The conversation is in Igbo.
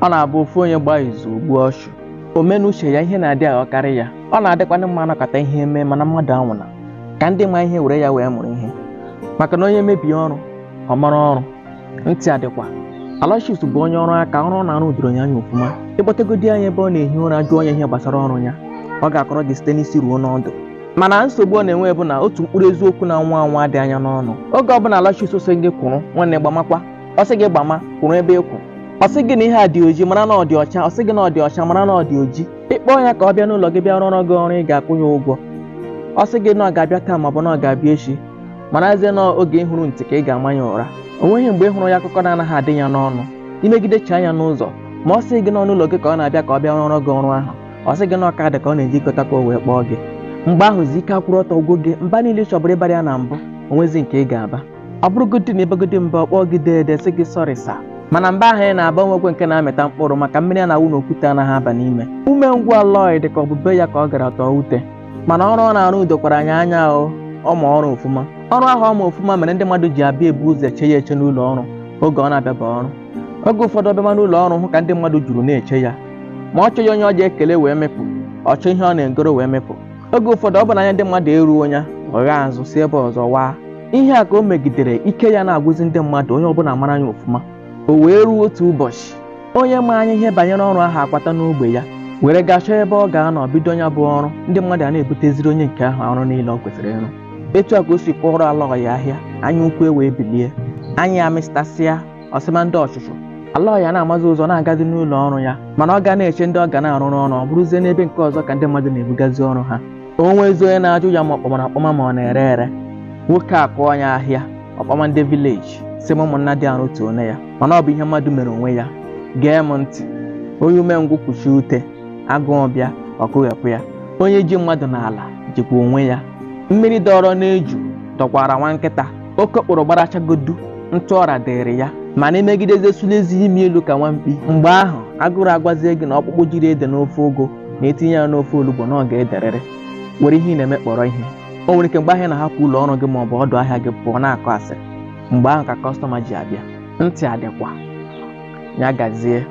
ọ na-abụ ofu onye gbaa izu o gbuo ọchụ omenuche ya ihe na-adị aghọkarị ya ọ na-adịkwanụ mma anọkọta ihe eme mana mmadụ anwụna ka ndị ma ihe were ya wee mụrụ ihe maka na onye mebie ọrụ ọ mara ọrụ ntị adịkwa Aloysius bụ onye ọrụ aka ọrụ ọ na-arụ doro ya anya ofuma ị kpọtegodi ya ebe ọ na-ehi ụra jụọ ya ihe gbasara ọrụ ya ọ ga-akọrọ gị site n'isi ruo n'ọdụ mana nsogbu ọ na-enwe bụ na otu mkpụrụ eziokwu na-anwa anwa adị ya n'ọnụ oge ọbụla Aloysius sị gị kwụrụ nwanne gbamakwa ọ sị gị gbama kwụrụ ebe ị kwụ ọ sị gị na ihe a dị oji mara na ọ dị ọcha ọ sị gị na ọ dị ọcha mara na ọ dị oji ị kpọọ ya ka ọ bịa n'ụlọ gị bịa rụọrọ gị ọrụ ị ga-akwụ ya ụgwọ ọ sị gị na ọ ga-abịa taa maọbụ na ọ ga-abịa echi marazie na oge ị hụrụ ntị ka ị ga-ama ya ụra o nweghị mgbe ị hụrụ ya akụkọ na-anaghị adị ya n'ọnụ i negidechaa anya n'ụzọ ma ọ sị gị na ọ n'ụlọ gị ka ọ na-abịa ka ọ bịa rụọrọ gị ọrụ ahụ ọ sị gị na ọ kaadị ka ọ na-eje igota ka o wee kpọọ gị mgbe ahụzi ike akwụrụ ọtọ gwụ gị mba niile ị chọbụrụ ịbara ya na mbụ o nwezi nke ị ga-aba ọ bụrụgodị na ị bagodi mba ọ kpọọ gị deede sị gị sọrị sa mana mba ahụ ị na-aba o nwekwe nke na-amịta mkpụrụ maka mmiri a na-awụ n'okwute anaghị aba n'ime umengwụ Aloy dị ka ọ bụ be ya ka ọ gara tọọ ute mana ọrụ ọ na-arụ dokwara ya anya o ọ ma ọrụ ofuma ọrụ ahụ ọ ma ofuma mere ndị mmadụ ji abịa ebu ụzọ eche ya eche n'ụlọ ọrụ oge ọ na-abịaba ọrụ oge ụfọdụ ọ bịama n'ụlọ ọrụ hụ ka ndị mmadụ juru na-eche ya ma ọ chọghị onye ọ ji ekele wee mepụ ọ chọọ ihe ọ na-egoro wee mepụ oge ụfọdụ ọ bụ na anya ndị mmadụ eruo ya ọ ghaa azụ si ebe ọzọ waa ihe a ka o megidere ike ya na-agwụzi ndị mmadụ onye ọbụla mara ya ofụma o wee ruo otu ụbọchị onye ma anya ihe banyere ọrụ ahụ akwata n'ogbe ya were gaa chọọ ebe ọ ga-anọ bido ya bụ ọrụ ndị mmadụ a na-ebuteziri onye nke ahụ ọrụ niile ọ kwesịrị ịrụ etu a ka o si kpọrọ Aloy ahịa anya ukwu ewee bilie anyị amịstasịa ọsịma ndị ọchụchụ Aloy a na-amazi ụzọ na-agazi n'ụlọ ọrụ ya mana ọ ga na-eche ndị ọ ga na-arụrụ ọrụ ọ bụrụzie n'ebe nke ọzọ ka ndị mmadụ na-ebugazi ọrụ ha o nwezi onye na-ajụ ya ma ọ kpọmara akpọma ma ọ na-ere ere nwoke akụọ ya ahịa ọkpọma ndị vileji si m ụmụnna dị arụ tuo na ya mana ọ bụ ihe mmadụ mere onwe ya gee m ntị onye umengwụ kpuchie ute agụụ bịa o kpughepụ ya onye ji mmadụ n'ala jikwa onwe ya mmiri dọrọ n'eju dọkwara nwa nkịta okokporo gbarachagodu ntụ ọra dịrị ya mana i megidezie sụlezi imi elu ka nwa mkpi mgbe ahụ agụrụ agwazie gị na ọkpụkpụ jiri ede n'ofe ụgụ na etinye ya n'ofe olugbo na ọ ga-ederịrị were ihe ị na-eme kpọrọ ihe o nwere ike mgbe ahụ ị na-ahapụ ụlọ ọrụ gị ma ọ bụ ọdụ ahịa gị pụọ na-akọ asịrị mgbe ahụ ka kọstọma ji abịa ntị adịkwa ya gazie